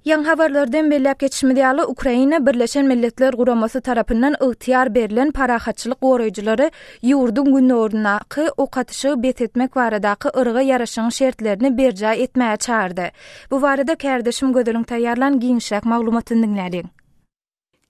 Ýaňy habarlardan belläp geçişimiz ýaly, Ukraina Birleşen Milletler Guramasy tarapyndan ygtyýar berlen parahatçylyk goraýjylary ýurduň gündogaryndaky ok atyşygy bes etmek baradaky yrga ýaraşygyň şertlerini berjaý etmäge çagyrdy. Bu barada kärdeşim Gözeliň taýýarlan giňişräk maglumatyny diňläliň.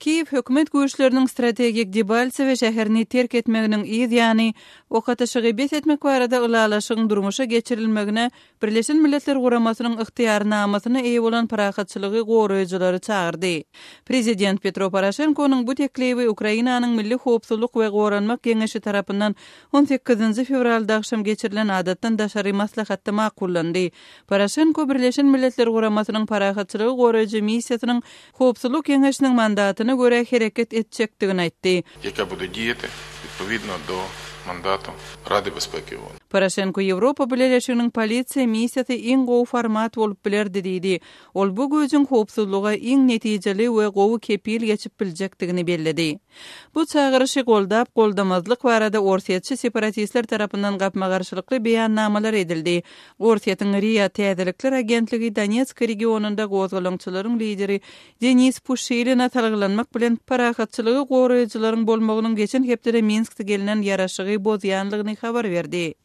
Kiýew hökümet güýçleriniň strategik Debalsewe şäherini terk etmeginiň yz ýany, ok atyşygy bes etmek barada ylalaşygyň durmuşa geçirilmegine Birleşen Milletler Guramasynyň ygtyýarnamasyna eýe bolan parahatçylygy goraýjylary çagyrdy. Prezident Petro Poroşenkonyň bu teklibi Ukrainanyň Milli howpsuzlyk we goranmak geňeşi tarapyndan on sekizinji fewralda agşam geçirilen adatdan daşary maslahatda makullandy. Poroşenko Birleşen Milletler Guramasynyň parahatçylygy goraýjy missiýasynyň Howpsuzlyk Geňeşiniň mandatyna görä hereket etjekdigini aýtdy. Ýeke bude diýeti odpowidno do mandatu Rady Bezpeki. Poroşenko Ýewropa Bileleşiginiň polisiýa missiýasy iň gowy format bolup bilerdi diýdi. Ol bu güýjüň howpsuzlyga iň netijeli we gowy kepil geçip biljekdigini belledi. Bu çagyryşy goldap-goldamazlyk barada orsýetçi separatistler tarapyndan gapma-garşylykly beýannamalar edildi. Orsýetiň ria täzelikler agentligi Donetsk regionynda gozgalaňçylaryň lideri Denis Puşilina salgylanmak bilen parahatçylygy goraýjylaryň bolmagynyň geçen hepdede Minskde gelnen ýaraşygy bozýanlygyny habar berdi.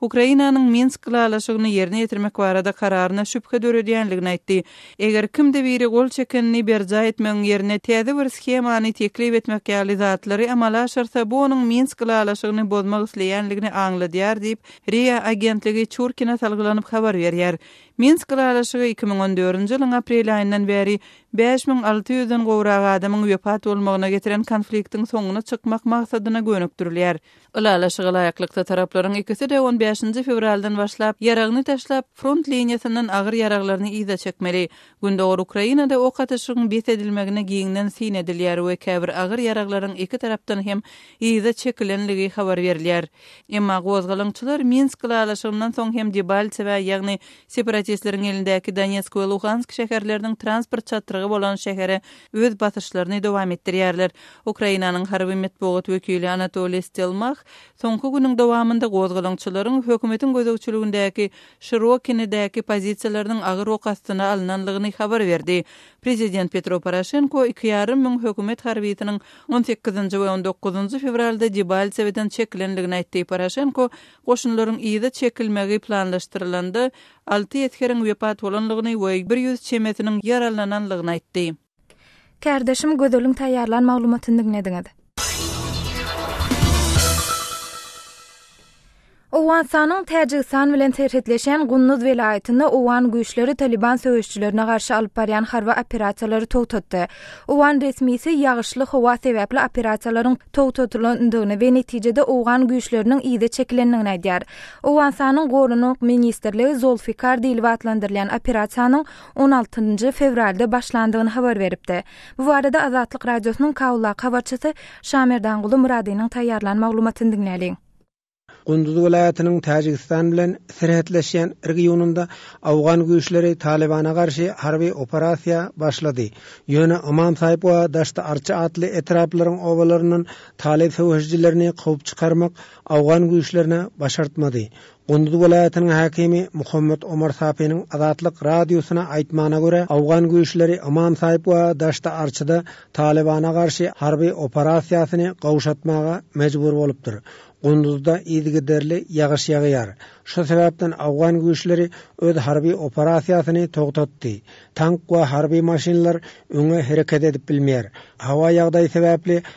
Ukrainanyň Minsk ylalaşygyny ýerine ýetirmek barada kararyna şübhe döredýändigini aýtdy. Eger kimde biri gol çekenini berjaý etmegiň ýerine täze bir shemany teklip etmek ýaly zatlary amala aşyrsa, bu onuň Minsk ylalaşygyny bozmak isleýändigini aňladýar diýip, ria agentligi Çurkina salgylanyp habar berýär. Minsk ylalaşygy iki müň on dördünji ýylyň aprel aýyndan bäri bäş müň alty ýüzden gowrak adamyň wepat bolmagyna getiren konfliktiň soňuna çykmak maksadyna gönükdirilýär. Ylalaşyga laýyklykda taraplaryň ikisi-de on bäşinji fewraldan başlap ýaragyny taşlap, front liniýasyndan agyr ýaraglaryny yza çekmeli. Gündogar Ukrainada ok atyşygyň bes edilmegine giňden syn edilýär we käbir agyr ýaraglaryň iki tarapdan hem yza çekilenligi habar berilýär. Emma gozgalaňçylar Minsk ylalaşygyndan soň hem Debaltsewä, ýagny separatistleriň elindäki Donetsk we Luhansk şäherleriniň transport çatrygy bolan şähere öz basyşlaryny dowam etdirýärler. Ukrainanyň harby metbugat wekili Anatoliý Stelmah soňky günüň dowamynda gozgalaňçylaryň hökümetiň gözegçiligindäki Şirokinedäki pozisiýalarynyň agyr ok astyna alynanlygyny habar berdi. Prezident Petro Poroşenko iki ýarym müň hökümet harbysynyň on sekizinji we on dokuzynjy fewralda Debaltseweden çekilenligini aýtdy. Poroşenko goşunlaryň yza çekilmegi planlaşdyrylanda alty esgeriň wepat bolandygyny we bir ýüz çemesiniň ýaralanandygyny aýtdy. Kärdeşim Gözeliň taýýarlan maglumatyny diňlediňiz. Owganystanyň Täjigistan bilen serhetleşýän Gunduz welaýatynda owgan güýçleri Talyban söweşçilerine garşy alyp barýan harby operasiýalary togtatdy. Owgan resmisi ýagyşly howa sebäpli operasiýalaryň togtadylandygyny we netijede owgan güýçleriniň yza çekilendigini aýdýar. Owganystanyň Gorunok ministrligi Zolfikar diýlip atlandyrylýan operasiýanyň on altynjy fewralda başlandygyny habar beripdi. Bu barada Azatlyk Radiosynyň Kabuldaky habarçysy Şamerdanguly Myradynyň taýýarlan maglumatyny diňläliň. Gunduz welaýatynyň Täjigistan bilen serhetleşýän regionynda owgan güýçleri Talybana garşy harby operasiýa başlady. Ýöne Ymam Saýp we Daşt-e-Arçy atly etraplaryň obalaryndan talyb söweşijilerini kowup çykarmak Awgan güýçlerine başartmady. Gunduz welaýatynyň häkimi Muhammet Omar Sapiniň Azatlyk Radiosyna aýtmagyna görä, awgan güýçleri Ymam Saýp we Daşt-e Arçyda Talybana garşy harby operasiýasyny gawşatmaga mejbur bolupdyr. Gunduzda yzygiderli ýagyş ýagýar. Şu sebäpden awgan güýçleri öz harby operasiýasyny togtatdy. Tank we harby maşynlar öňe hereket edip bilmeýär. Howa ýagdaýy sebäpli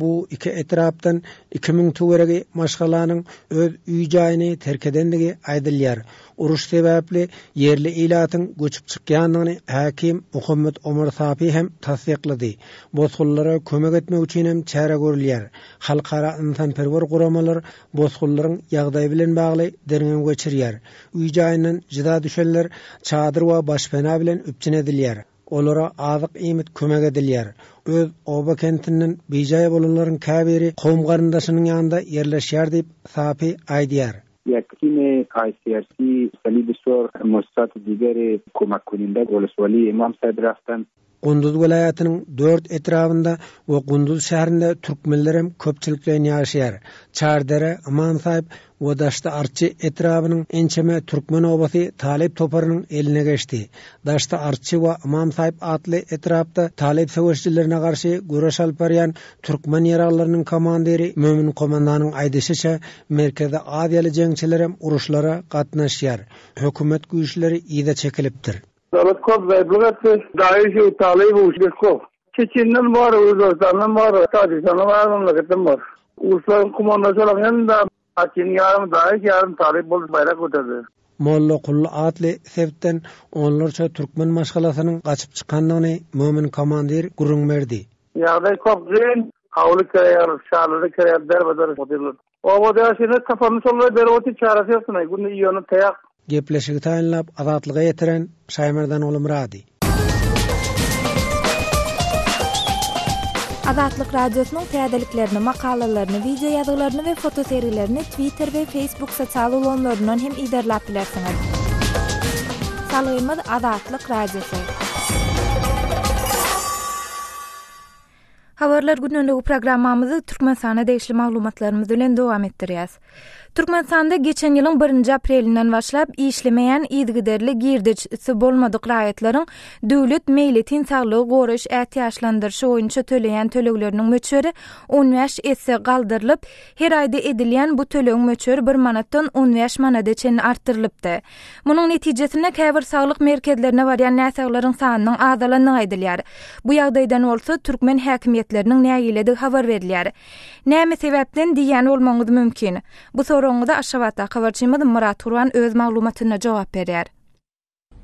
Bu iki etrapdan iki müň töweregi maşgalanyň öz uý-jaýyny terk edendigi aýdylýar. Uruş sebäpli ýerli ilatyň göçüp çykýandygyny häkim Muhammet Omar Sapi hem tassyklady. Bosgunlara kömek etmek üçin hem çäre görülýär. Halkara ynsanperwer guramalar bosgunlaryň ýagdaýy bilen bagly derňew geçirýär. Uý-jaýyndan jyda düşenler çadyr we başpena bilen üpjün edilýär. Olara azyk-iýmit kömek edilýär. Öz oba-kentinden bijaý bolanlaryň käbiri kowum-garyndaşynyň ýanynda ýerleşýär diýip, Sapi aýdýar. Ýakini ICRC, Salibi Sor, Mussat Digeri, Komakuninde, Golis Wali, Imam Sadrahdan. Gunduz welaýatynyň dört etrabynda we Gunduz şäherinde türkmenlerem köpçülikleýin ýaşaýar. Çardere, Iman Saip, we Daşdy Arçy etrabynyň ençeme türkmen obasy talyp toparynyň eline geçdi. Daşdy Arçy we Ymam Saýyp atly etrapda talyp söweşjilerine garşy göreş alyp barýan türkmen ýaraglylarynyň komandiri Mömin komandanyň aýdyşyça, Merkezi aziýaly jeňçilerem uruşlara gatnaşýar. Hökümet güýçleri yza çekilipdir. Döwlet köp gaýyplyk etdi. Daýyşew, Talybow, Şirkow Çeçenden bar, Özbegistandan bar, Tajigistandan bar, memleketden bar. Urslaryň kumandaşy bolan hem-de Atiniň ýarym daýyş, ýarym talyp bolup baýrak göterdi. Mollakuly atly sebitden onlarça türkmen maşgalasynyň gaçyp çykandygyny Mömin komandir gürrüň berdi. Ýagdaý kop gyn. Howly kiraýa aldyk, çadyra kiraýa aldyk, derbeder otyrlar. Oba Bäşirine saparyny şolary berip otyr, çäresi ýokdunay, günde iýeni taýak. Gepleşigi taýynlap, Azatlyga ýetiren Şaýmerdan Gulumyrady. Azatlyk Radiosynyň täzeliklerini, makalalaryny, wideoýazgylaryny we fotosergilerini Twitter we Facebook sosial ulgamlaryndan hem yzarlap bilersiňiz. Salgymyz Azatlyk Radiosy. Habarlar güneligi programmamyzy Türkmenistana degişli maglumatlarymyz bilen dowam etdirýäs. Türkmenistanda geçen ýylyň 1-nji aprelinden başlap işlemeýän yzygiderli girdeji si bolmadyk raýatlaryň döwlet meýletin saglygy goraýyş ätiýaçlandyryşy boýunça töleýän tölegleriniň möçberi on bäş esse galdyrylyp, her aýda edilýän bu tölegiň möçberi bir manatdan on bäş manada çenli artdyrylypdy. Munuň netijesinde käbir saglyk merkezlerine barýan näsaglaryň sanynyň azalandygy aýdylýar. Bu ýagdaýdan bolsa, türkmen häkimiýetleriniň nägiledigi habar berilýär. Näme sebäpden diýýän bolmagyňyz mümkin. Bu soragyňyza Aşgabatdaky habarçymyz Myrat Gurban öz maglumatynda jogap berýär.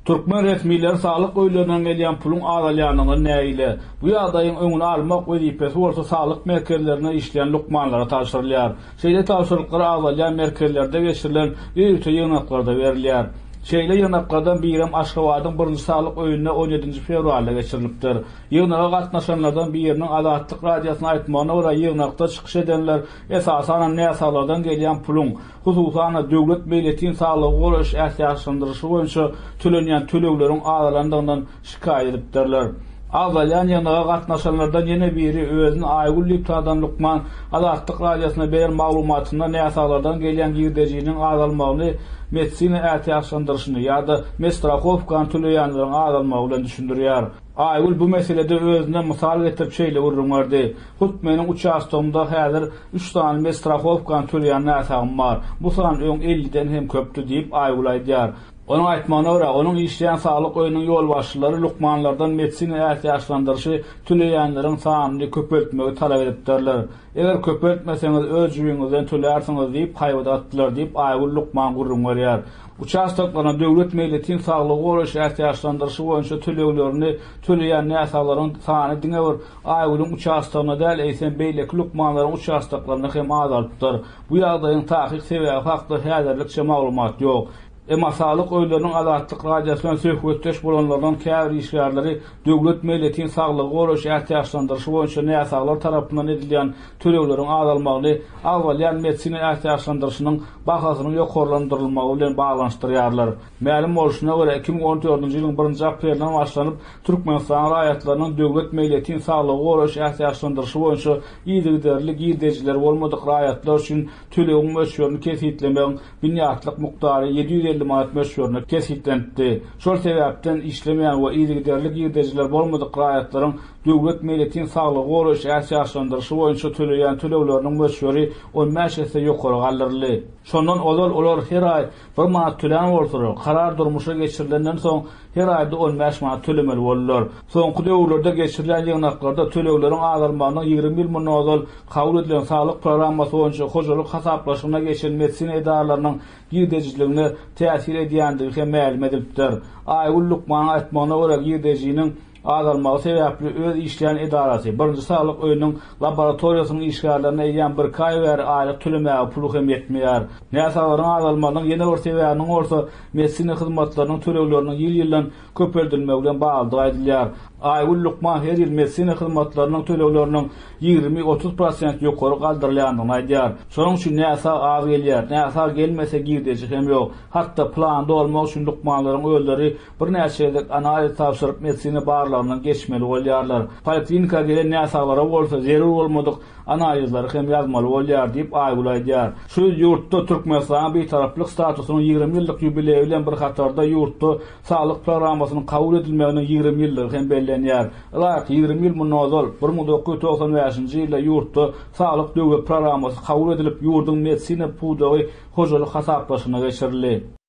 Türkmen resmileri saglyk öýlerinden gelýän puluň azalýandygyna nägile. Bu ýagdaýyň öňüni almak wezipesi bolsa saglyk merkezlerinde işleýän lukmanlara tabşyrylýar. Şeýle tabşyryklar azalýan merkezlerde geçirilen ýörite ýygnaklarda berilýär. Şeýle ýygnaklardan birem Aşgabadyň Birinji saglyk öýünde on ýedinji fewralda geçirilipdir. Ýygnaga gatnaşanlardan biriniň Azatlyk Radiosyna aýtmagyna görä, ýygnakda çykyş edenler esasanam näsaglardan gelýän puluň, hususan-da, döwlet meýletin saglygy goraýyş ätiýaçlandyryşy boýunça tölenýän tölegleriň azalandygyndan şikaýat edipdirler. Agzalýan ýygnaga gatnaşanlardan ýene biri özüni Aýgül diýip tanadan lukman Azatlyk Radiosyna beren maglumatynda näsaglardan gelýän girdejiniň azalmagyny medisina ätiýaçlandyryşyny ýa-da medstrahowkany töleýänleriň azalmagy bilen düşündirýär. Aýgül bu meselede özüne mysal getirip şeýle gürrüň berdi, Hut meniň uçastogymda häzir üç sany medstrahowkany töleýän näsagym bar. Bu san öň elliden hem köpdi diýip, Aýgül aýdýar. Onuň aýtmagyna görä, onuň işleýän saglyk öýüniň ýolbaşçylary lukmanlardan medisina ätiýaçlandyryşy töleýänleriň sanyny köpeltmegi talap edipdirler. Eger köpeltmeseňiz, öz jübiňizden tölärsiňiz diýip, haýbat atdylar diýip, Aýgül lukman gürrüň berýär. Uçastoklaryna döwlet meýletin saglygy goraýyş ätiýaçlandyryşy boýunça töleglerini töleýän näsaglaryň sany diňe bir Aýgülüň uçastogyna däl, eýsem, beýleki lukmanlaryň uçastoklaryna hem azalypdyr. Bu ýagdaýyň takyk sebäbi hakda häzirlikçe maglumat ýok. Emma saglyk öýleriniň Azatlyk Radiosy bilen söhbetdeş bolanlardan käbir işgärleri döwlet meýletin saglygy goraýyş ätiýaçlandyryşy boýunça näsaglar tarapyndan edilýän tölegleriň azalmagyny agzalýan medisina ätiýaçlandyryşynyň bahasynyň ýokarlandyrylmagy bilen baglanyşdyrýarlar. Mälim bolşuna görä, iki müň on dördünji ýylyň birinji aprelinden başlanyp, Türkmenistanyň raýatlarynyň döwlet meýletin saglygy goraýyş ätiýaçlandyryşy boýunça yzygiderli girdejileri bolmadyk raýatlar üçin Tölegiň möçberini kesgitlemegiň binýatlyk mukdary ýedi ýüz elli manat möçberinde kesgitlenipdi. Şol sebäpden işlemeýän we yzygiderli girdejileri bolmadyk raýatlaryň döwlet meýletin saglygy goraýyş ätiýaçlandyryşy boýunça töleýän tölegleriniň möçberi on bäş esse ýokary galdyryldy. Şondan ozal olar her aý bir manat tölän bolsalar, karar durmuşa geçirilenden soň, Her aýda on bäş manat tölemeli boldular. Soňky döwürlerde geçirilýän ýygnaklarda tölegleriň azalmagynyň ýigrimi ýyl mundan ozal kabul edilen saglyk programmasy boýunça hojalyk hasaplaşygyna geçen medisina edaralarynyň girdejijiligine täsir edýändigi hem mälim edilipdir. Aýgül lukmanyň aýtmagyna görä, girdejiniň azalmagy sebäpli öz işleýän edarasy, birinji saglyk öýüniň laboratoriýasynyň işgärlerine eýýäm birki aý bäri aýlyk tölemäge puly hem ýetmeýär. Näsaglaryň azalmagynyň ýene bir sebäbiniň bolsa medisina hyzmatlarynyň tölegleriniň ýyl-ýyldan köpeldilmegi bilen baglydygy aýdylýar. Aýgül lukman her ýyl medisina hyzmatlarynyň tölegleriniň ýigrimi, otuz prosent ýokary galdyrylýandygyny aýdýar. Şonuň üçin näsag az gelýär. Näsag gelmese girdeji hem ýok. Hat-da plany dolmak üçin lukmanlaryň özleri Birnäçe gezek analiz tabşyryp, medisina barlagyndan geçmeli bolýarlar. Poliklinika gelen näsaglara bolsa zerur bolmadyk analizleri hem ýazmaly bolýar diýip, Aýgül aýdýar. Şu ýyl ýurtda Türkmenistanyň Bitaraplyk statusynyň ýigrimi ýyllyk ýubileýi bilen bir hatarda ýurtda Saglyk programmasynyň kabul edilmeginiň ýigrimi ýyllygy hem bellenýär. Ylaýyk ýigrimi ýyl mundan ozal, bir müň dokuz ýüz togsan bäşinji ýylda ýurtda Saglyk döwlet programmasy kabul edilip, ýurduň medisina pudagy hojalyk hasaplaşygyna geçirildi.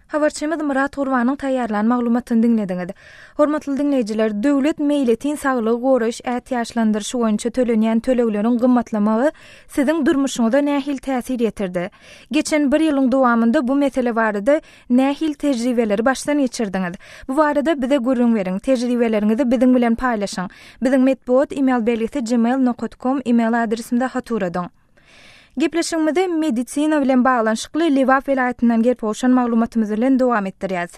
Habarçymyz Myrat Gurbanyň taýýarlan maglumatyny diňlediňiz. Hormatly diňleýjiler, döwlet meýletin saglygy goraýyş ätiýaçlandyryşy boýunça tölenýän tölegleriň gymmatlamagy siziň durmuşyňyza nähili täsir ýetirdi? Geçen bir ýylyň dowamynda bu mesele barada nähili tejribeleri başdan geçirdiňiz? Bu barada bize gürrüň beriň, tejribeleriňizi biziň bilen paýlaşyň. Biziň metbugat email belgisi gmail nokat kom email adresimze hat uradyň. Gepleşigimizi medisina bilen baglanyşykly Lebap welaýatyndan gelip gowşan maglumatymyz bilen dowam etdirýäs.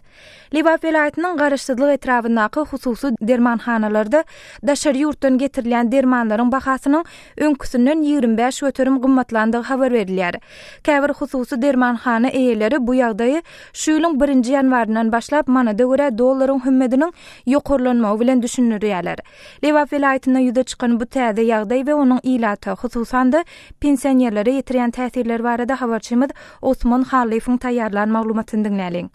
Lebap welaýatynyň Garaşsyzlyk etrabyndaky hususy dermanhanalarda daşary ýurtdan getirilýän dermanlaryň bahasynyň öňküsinden ýigrimi bäş göterim gymmatlandygy habar berilýär. Käbir hususy dermanhana eýeleri bu ýagdaýy şu ýylyň birinji ýanwaryndan başlap manada görä dollaryň hümmediniň ýokarlanmagy bilen düşündirýärler. Lebap welaýatynda ýüze çykan bu täze ýagdaý we onuň ilata, hususan-da, pensionerlere ýetirýän täsirleri barada habarçymyz Osman Hallyýewiň taýýarlan maglumatyny diňläliň.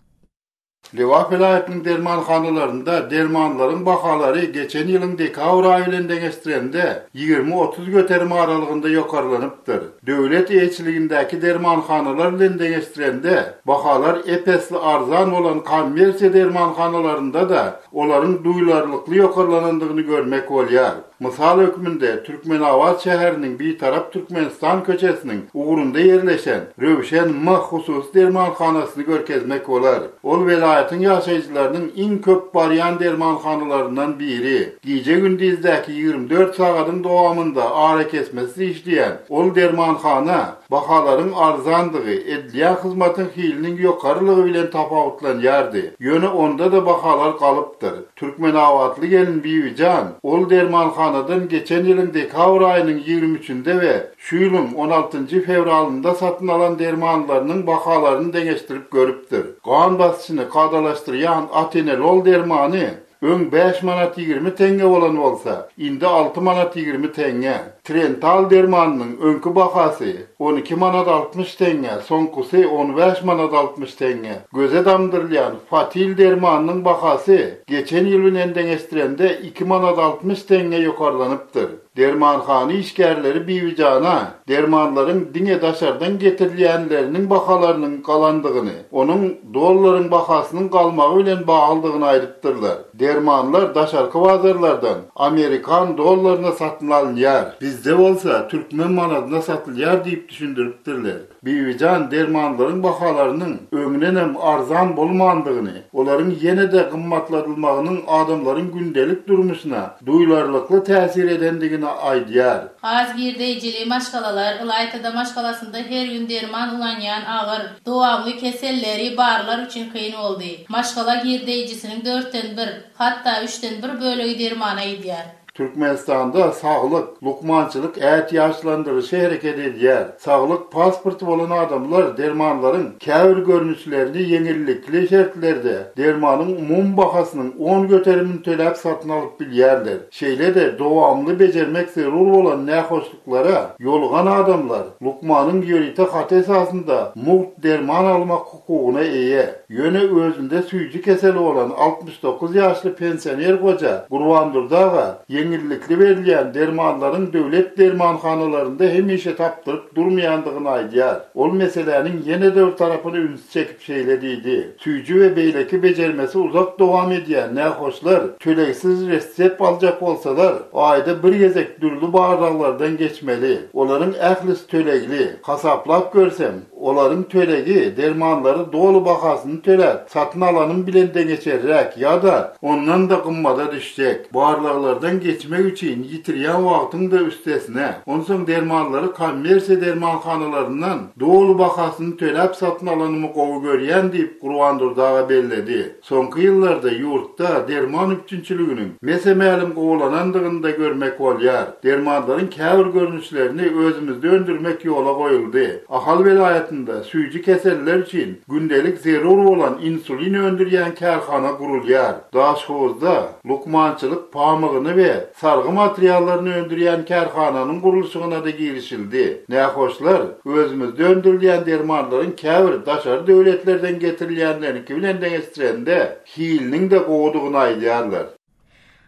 Lebap welaýatynyň dermanhanalarynda dermanlaryň bahalary geçen ýylyň dekabr aýy bilen deňeşdirende, ýigrimi-otuz göterim aralygynda ýokarlanypdyr. Döwlet eýeçiligindäki dermanhanalar bilen deňeşdirende, bahalar ep-esli arzan bolan kommersiýa dermanhanalarynda-da olaryň duýlarlykly ýokarlanandygyny görmek bolýar. Mysal hökmünde, Türkmenabat şäheriniň Bitarap Türkmenistan köçesiniň ugrunda ýerleşen Röwşen M hususy dermanhanasyny görkezmek bolar. Ol welaýatyň ýaşaýjylarynyň iň köp barýan dermanhanalaryndan biri. Gije-gündizdäki ýigrimi dört sagadyň dowamynda arakesmesiz işleýän ol dermanhana, Bahalaryň arzandygy edilýän hyzmatyň hiliniň ýokarylygy bilen tapawutlanýardy. Ýöne onda-da bahalar galypdyr. Türkmenabatly gelin Bibijan, ol dermanhanadan geçen ýylyň dekabr aýynyň ýigrimi üçinde we şu ýylyň on altynjy fewralynda satyn alan dermanlarynyň bahalaryny deňeşdirip görüpdir. Gan basyşyny kadalaşdyrýan atenolol dermany Öň bäş manat ýigrimi teňňe bolan bolsa, indi alty manat ýigrimi teňňe. Trental dermanynyň öňki bahasy on iki manat altmyş teňňe, soňkusy on bäş manat altmyş teňňe. Göze damdyrylýan Fatil dermanynyň bahasy geçen ýyl bilen deňeşdirende iki manat altmyş teňňe ýokarlanypdyr. Dermanhana işgärleri Bibijana dermanlaryň diňe daşardan getirilýänleriniň bahalarynyň galandygyny, onuň dollaryň bahasynyň galmagy bilen baglydygyny aýdypdyrlar. Dermanlar daşarky bazarlardan amerikan dollaryna satyn alynýar. Bizde bolsa türkmen manadyna satylýar diýip düşündiripdirler. Bibijan dermanlaryň bahalarynyň öňdenem arzan bolmandygyny, olaryň ýene-de gymmatladylmagynyň adamlaryň gündelik durmuşyna duýlarlykly täsir edendigini aýdýar. Az girdeýjili maşgalalar, ylaýta-da maşgalasynda her gün derman ulanýan agyr, dowamly keselleri barlar üçin kyn boldy. Maşgala girdeýjisiniň dörtden bir, hatda üçden bir bölegi dermana gidýär. Türkmenistanda saglyk, lukmançylyk ätiýaçlandyryşy hereket edýär. Saglyk pasporty bolan adamlar dermanlaryň käbir görnüşlerini ýeňillikli şertlerde, dermanyň umumy bahasynyň on göterimini töläp satyn alyp bilýärler. Şeýle-de dowamly bejermek zerur bolan nähoşluklara ýolugan adamlar lukmanyň ýörite haty esasynda mugt derman almak hukugyna eýe. Ýöne özünde süýji keseli bolan altmyş dokuz ýaşly pensioner goja Gurbandurdy aga ýeňillikli berilýän dermanlaryň döwlet dermanhanalarynda hemişe tapdyryp durmaýandygyny aýdýar. Ol meseläniň ýene-de bir tarapyna üns çekip şeýle diýdi, Süýji we beýleki bejermesi uzak dowam edýän nähoşlar tölegsiz ressept aljak bolsalar, aýda bir gezek dürli barlaglardan geçmeli. Olaryň ählisi tölegli. Hasaplap görsem, olaryň tölegi dermanlary doly bahasyny töläp satyn alanyň bilen deňeçerräk ýa-da ondan-da gymmada düşjek. Barlaglardan geçmek üçin ýitirýän wagtyň-da üstesine, onsoň dermanlary kommersiýa dermanhanalaryndan doly bahasyny töläp satyn alanymy gowy görýän diýip, Gurbandurdy aga belledi. Soňky ýyllarda ýurtda derman üpjünçiliginiň mese-mälim gowulanandygyny-da görmek bolýar. Dermanlaryň käbir görnüşlerini özümizde öndürmek ýola goýuldy. Ahal welaýatynda süýji keseller üçin gündelik zerur bolan insulin öndürýän kärhana gurulýar. Daşhowuzda Lukmançylyk pamygyny we sargy materiallaryny öndürýän kärhananyň gurluşygyna-da girişildi. Nähoşlar, özümizde öndürilýän dermanlaryň käbir daşary döwletlerden getirilýänleriňki bilen deňeşdirende, hiliniň-de gowudygyny aýdýarlar.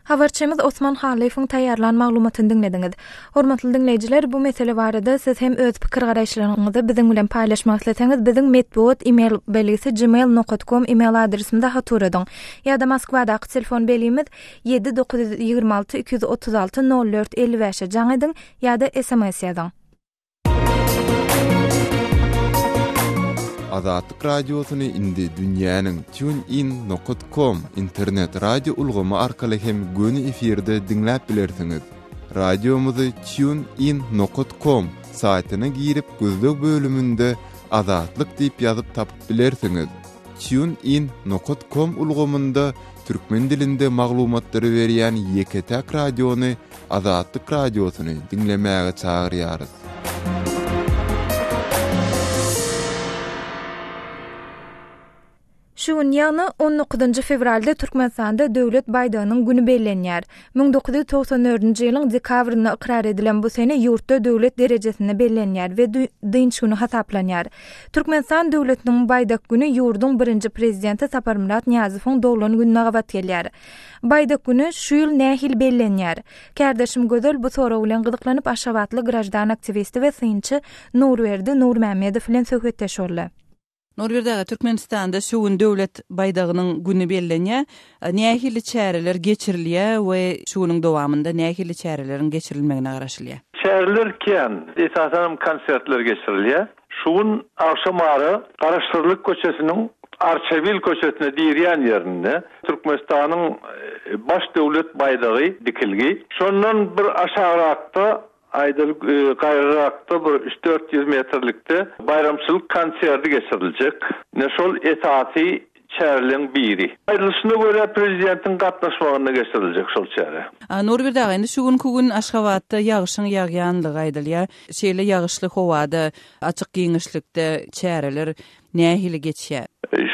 Habarçymyz Osman Halyýewiň taýýarlan maglumatyny diňlediňiz. Hormatly diňleýjiler, bu mesele barada siz hem öz pikir-garaýyşlaryňyzy biziň bilen paýlaşmak isleseňiz, biziň metbugat e-mail belgisi gmail nokat kom e-mail adresimize hat uradyň. Ýa-da Moskwadaky telefon belgimiz, ýedi, dokuz ýüz ýigrimi alty, iki ýüz otuz alty, nol dört, elli bäş-e jaň ediň ýa-da sms ýazyň. Azatlyk Radiosyny indi dünýäniň TuneIn nokat kom internet radio ulgamy arkaly hem göni efirde diňläp bilersiňiz. Radiomyzy TuneIn nokat kom saýtyna girip gözleg bölüminde Azatlyk diýip ýazyp tapyp bilersiňiz. TuneIn nokat kom ulgamynda türkmen dilinde maglumatlary berýän ýeke-täk radiony Azatlyk Radiosyny diňlemäge çagyrýarys. Şu gün, ýagny on dokuzynjy fewralda Türkmenistanda Döwlet baýdagynyň güni bellenýär. Müň dokuz ýüz togsan dördünji ýylyň dekabrynda ykrar edilen bu sene ýurtda döwlet derejesinde bellenýär we dynç güni hasaplanýar. Türkmenistan döwletiniň Baýdak güni ýurduň birinji Prezidenti Saparmyrat Nyýazowyň doglan gününe gabat gelýär. Baýdak güni şu ýyl nähili bellenýär? Kärdeşim Gözel bu sorag bilen gyzyklanyp aşgabatly graždan aktiwisti we synçy Nurberdi Nurmämmedow bilen söhbetdeş boldy. Nurberdi aga, Türkmenistanda şu gün Döwlet baýdagynyň güni bellenýär. Nähili çäreler geçirilýär we şu günüň dowamynda nähili çäreleriň geçirilmegine garaşylýar? Çäreler kän, esasanam konsertler geçirilýär. Şu gün agşam ara Garaşsyzlyk köçesiniň Arçabil köçesine dirýän ýerinde Türkmenistanyň Baş döwlet baýdagy dikilgi. Şondan bir aşagrakda Aýdyl gaýrarakda bir üç-dört ýüz metrlikde baýramçylyk konserti geçiriljek. Ine, şol esasy çäreleň biri. Aýdylyşyna görä, prezidentiň gatnaşmagynda geçiriljek şol çäre. Nurberde aga, indi şu günki gün Aşgabatda ýagyşyň ýagýanlygy aýdylýar. Şeýle ýagyşly howada, açyk giňişlikde çäreler nähili geçýär?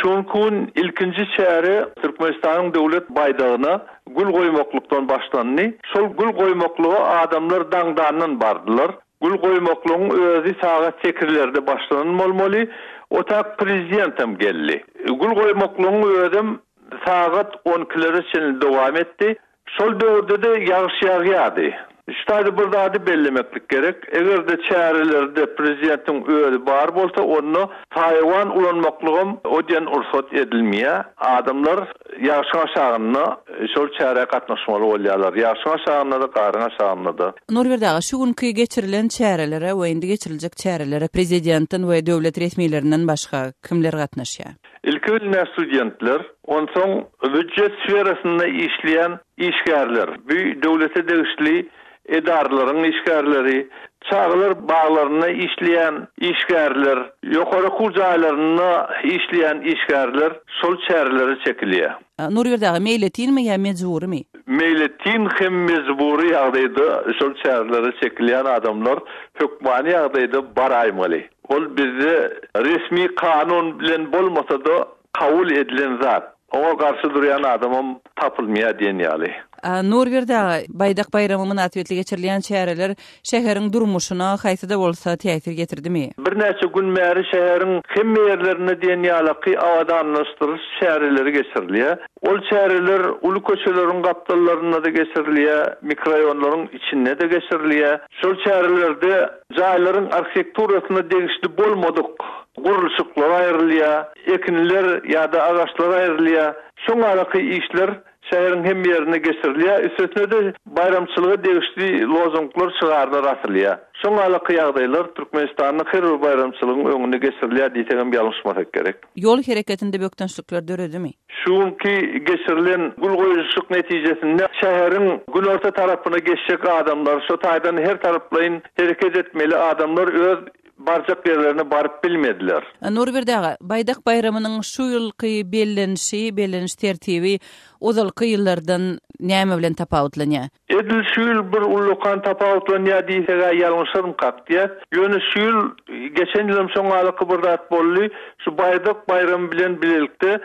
Şu günki gün ilkinji çäre Türkmenistanyň Döwlet baýdagyna gül goýmaklykdan başlandy. Şol gül goýmaklyga adamlar daňdandan bardylar. Gül goýmaklygyň özi sagat sekizlerde başlanan bolmaly. Otäk Prezidentem geldi. Gül goýmaklygyň özem sagat on ikilere çenli dowam etdi. Şol döwürde-de ýagyş ýagýardy. Şu taýda bir zady bellemeklik gerek, eger-de çärelerde prezidentiň özi bar bolsa, onda saýawan ulanmaklygam o diýen rugsat edilmeýär. Adamlar ýagşyň aşagynda şol çärä gatnaşmaly bolýarlar. Ýagşyň aşagynda-da, garyň aşagynda-da. Nurberdi aga, şu günki geçirilen çärelere we indi geçiriljek çärelere prezidentden we döwlet resmilerinden başga kimler gatnaşýar? Ilki bilmez studentler, onsoň býujet sferasynda işleýän işgärler, bu döwlete degişli edaralaryň işgärleri, çagalar baglarynda işleýän işgärler, ýokary okuw jaýlarynda işleýän işgärler şol çärelere çekilýär. Nurberdi aga, meýletinmi ýa mejburymy? Meýletin hem mejbury ýagdaýda şol çärelere çekilýän adamlar hökmany ýagdaýda baraýmaly. Ol bizde resmi kanun bilen bolmasa-da kabul edilen zat. Oňa garşy durýan adamam tapylmaýar diýen ýaly. Nurberdi aga, Baýdak baýramy mynasybetli geçirilýän çäreler şäheriň durmuşyna haýsy-da bolsa täsir getirdimi? Birnäçe gün bäri şäheriň hemme ýerlerinde diýen ýalyky abadanlaşdyryş çäreleri geçirilýär. Ol çäreler uly köçeleriň gapdallarynda-da geçirilýär, mikroraýonlaryň içinde-de geçirilýär. Şol çärelerde Jaýlaryň arhitekturasyna degişli bolmadyk gurluşyklar aýrylýar, ekinler ýa-da agaçlar aýrylýar. Şoň ýaly işler şäheriň hemme ýerinde geçirilýär. Üstesine-de, baýramçylyga degişli lozunglar, şygarlar asylýar. Şoň ýaly ýagdaýlar Türkmenistanyň her bir baýramçylygyň öňünde geçirilýär diýsegem ýalňyşmasak gerek. Ýol hereketinde bökdençlikler döredimi? Şu günki geçirilen gül goýulşyk netijesinde şäheriň günorta tarapyna geçjek adamlar, şo taýdan her taraplaýyn hereket etmeli adamlar öz barjak ýerlerine baryp bilmediler. Nurberdi aga, Baýdak baýramynyň şu ýylky bellenişi, belleniş tertibi ozalky ýyllardan näme bilen tapawutlanýar? Edil şu ýyl bir ullakan tapawutlanýar diýseg-ä ýalňyşarmykak diýýäs. Ýöne şu ýyl, geçen ýylam şoň ýalyky bir zat boldy, şu Baýdak baýramy bilen bilelikde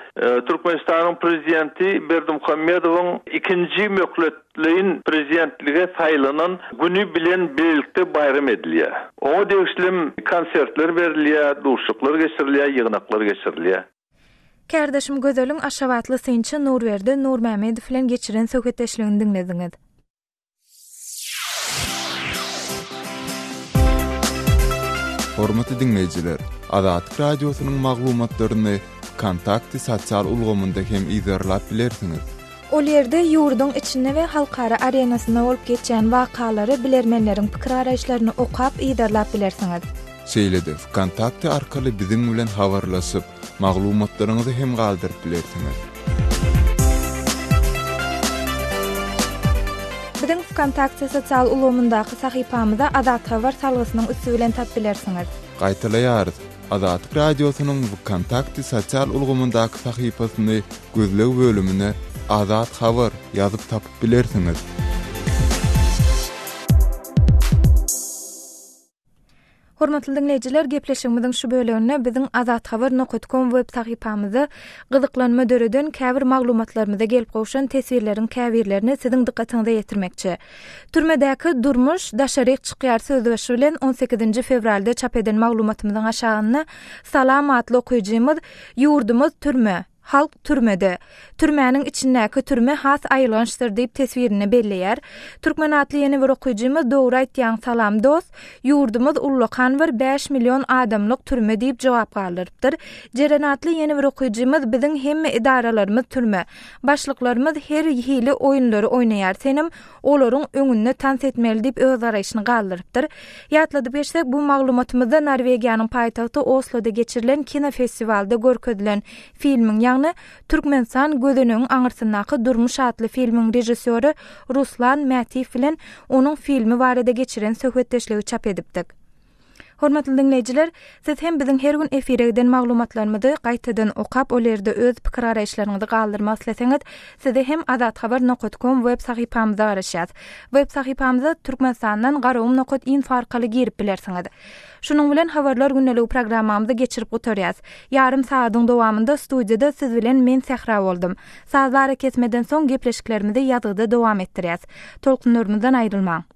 Türkmenistanyň Prezidenti Berdimuhamedowyň ikinji möhletleýin prezidentlige saýlanan güni bilen bilelikde baýram edilýär. Oňa degişlem konsertler berilýär, duşuşyklar geçirilýär, ýygnaklar geçirilýär. Kärdeşim Gözeliň aşgabatly synçy Nurberdi Nurmämmedow bilen geçiren söhbetdeşligini diňlediňiz. Hormatly diňleýjiler, Azatlyk Radiosynyň maglumatlaryny Wkontakte sosial ulgamynda hem yzarlap bilersiňiz. Ol ýerde ýurduň içinde we halkara arenasynda bolup geçýän wakalary, bilermenleriň pikir-araýyşlaryny okap, yzarlap bilersiňiz. Şeýle-de Vkontakte arkaly biziň bilen habarlaşyp, maglumatlaryňyzy hem galdyryp bilersiňiz. Biziň Vkontakte sosial ulgamyndaky sahypamyzy Azat Habar salgysynyň üsti bilen tap bilersiňiz. Gaýtalaýarys, Azatlyk Radiosynyň Vkontakte sosial ulgamyndaky sahypasyny gözleg bölümine Azat Habar ýazyp tapyp bilersiňiz. Hormatly diňleýjiler, gepleşigimiziň şu böleginde biziň Azat Haber nokat kom web sahypamyzda gyzyklanma döreden käbir maglumatlarymyza gelip gowşan teswirleriň käbirlerini siziň dykgatyňyza ýetirmekçi. Türmedäki durmuş daşaryk çykýar sözbaşy bilen on sekizinji fewralda çap eden maglumatymyzyň aşagynda Salam atly okyjymyz Ýurdumyz türme, Halk türmede. Türmäniň içindäki türme has aýylgançdyr diýip teswirini belleýär. Türkmen atly ýene bir okyjymyz Dogry aýtýaň salam dost. Ýurdumyz ullakan bir bäş million adamlyk türme diýip jogap galdyrypdyr. Jeren atly ýene bir okyjymyz Biziň hemme edaralarymyz türme. Başlyklarymyz her hili oýunlary oýnaýar senem olaryň öňünde tans etmeli diýip öz garaýşyny galdyrypdyr. Ýatladyp geçsek, bu maglumatymyzda Norwegiýanyň paýtagty Osloda geçirilen kinofestiwalda görkezilen filmiň, ýagny Türkmenistan, gözenegiň aňyrsyndaky durmuş atly filmiň režissýory Ruslan Mätiýew bilen onuň filmi barada geçiren söhbetdeşligi çap edipdik. Hormatly diňleýjiler, siz hem biziň her gün efire giden maglumatlarymyzy gaýtadan okap, ol ýerde öz pikir-garaýyşlaryňyzy galdyrmak isleseňiz, sizi hem Azat Habar nokat kom web sahypamyza garaşýas. Web sahypamyza Türkmenistandan Garagum nokat info arkaly girip bilersiňiz. Şunuň bilen Habarlar gündeligi programmamyzy geçirip gutarýas. Ýarym sagadyň dowamynda studiýada siz bilen men Sähra boldum. Sazly arakesmeden soň gepleşiklerimizi ýazgyda dowam etdirýäs. Tolkunlarymyzdan aýrylmaň.